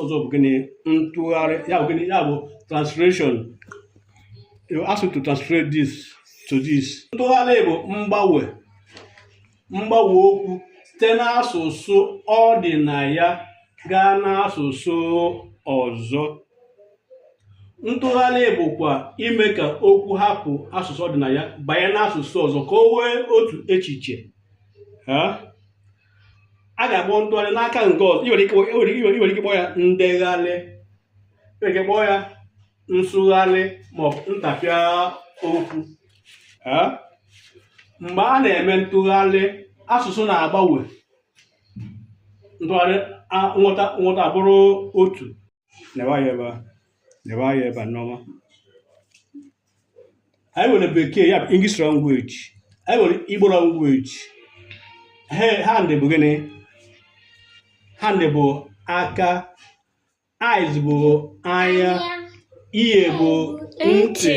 ọzọ bụ gịnị ntụgharị ya bụ gịnị ya bụ translation you ask me to translate this to this ntụgharị bụ mgbanwe mgbanwe okwu site n'asụsụ ọ dị na ya gaa n'asụsụ ọzọ ntụgharị bụkwa ime ka okwu hapụ asụsụ ọ dị na ya banye n'asụsụ ọzọ ka o nwee otu echiche a ga-akpọ ntụgharị n'aka nke ọzọ i nwere ike i nwere ike i nwere ike kpọọ ya ndegharị i nwere ike kpọọ ya nsụgharị maọbụ ntapịa okwu Eh? mgbe a na-eme ntụgharị asụsụ na-agbanwe ntụgharị a- nghọta nghọta abụrụ otu neba anya ebe a neba anya ebe a nneọma anyị nwere bekee ya bụ english language anyị nwere igbo language he hand bụ gịnị hand bụ aka eyes bụ anya ear bụ ntị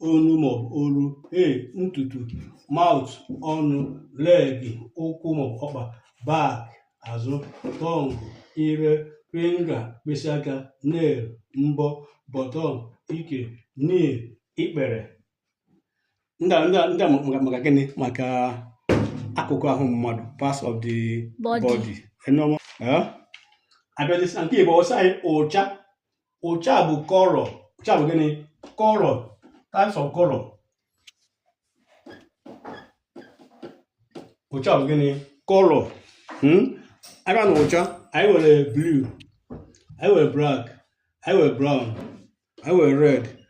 onu maọbụ olu hair ntutu mouth ọnụ leg ụkwụ maọbụ ọkpa back azụ tongue ire finger mkpịsị aka nail mbọ bottom ike knee ikpere ndị a- ndị a- ndị a maka maka gịnị maka akụkụ ahụ mmadụ parts of the Body. body Enu ọma? Eh? abịazi na nke igbo ọ sị anyị ụcha ụcha bụ color ụcha bụ gịnị color types of color ụcha bụ gịnị color hmm? abịa na ụcha anyị nwere blue anyị nwere black anyị nwere brown anyị nwere red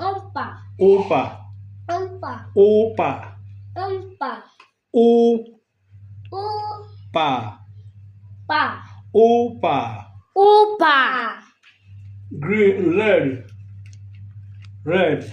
Opa. Opa. Opa. Opa. Opa. O. O. Pa. Pa. Opa. Opa. Green, red. Red.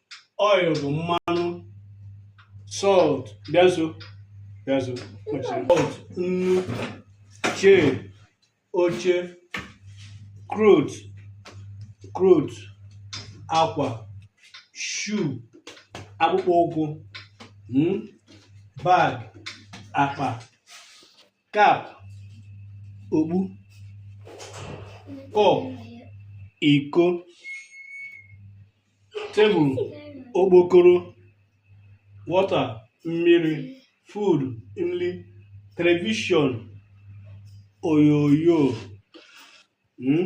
oil bụ mmanụ salt bịa nso bịa nso kpọchiri salt nnu chair oche cloth cloth akwa shoe akpụkpọ ụkwụ mm, bag akpa cap okpu cup iko table okpokoro water mmiri food nri television onyonyo hmm?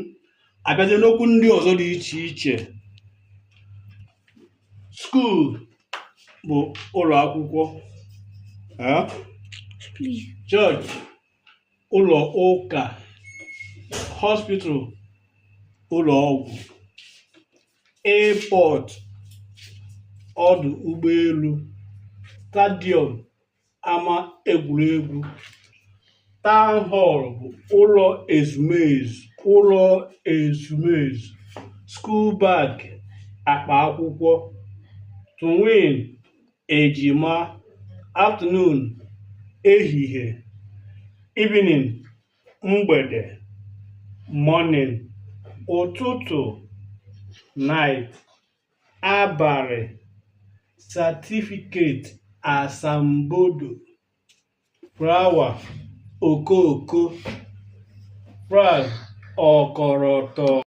abịazie n'okwu ndị ọzọ dị iche iche school bụ ụlọ akwụkwọ eh? church ụlọ ụka hospital ụlọ ọgwụ airport ọdụ ụgbọelu stadium ama egwuregwu town hall bụ ụlọ ezumezu ụlọ ezumezu school bag akpa akwụkwọ twin ejima afternoon ehihie evening mgbede morning ụtụtụ night abalị certificate asambodo flower okooko flag ọkọrọtọ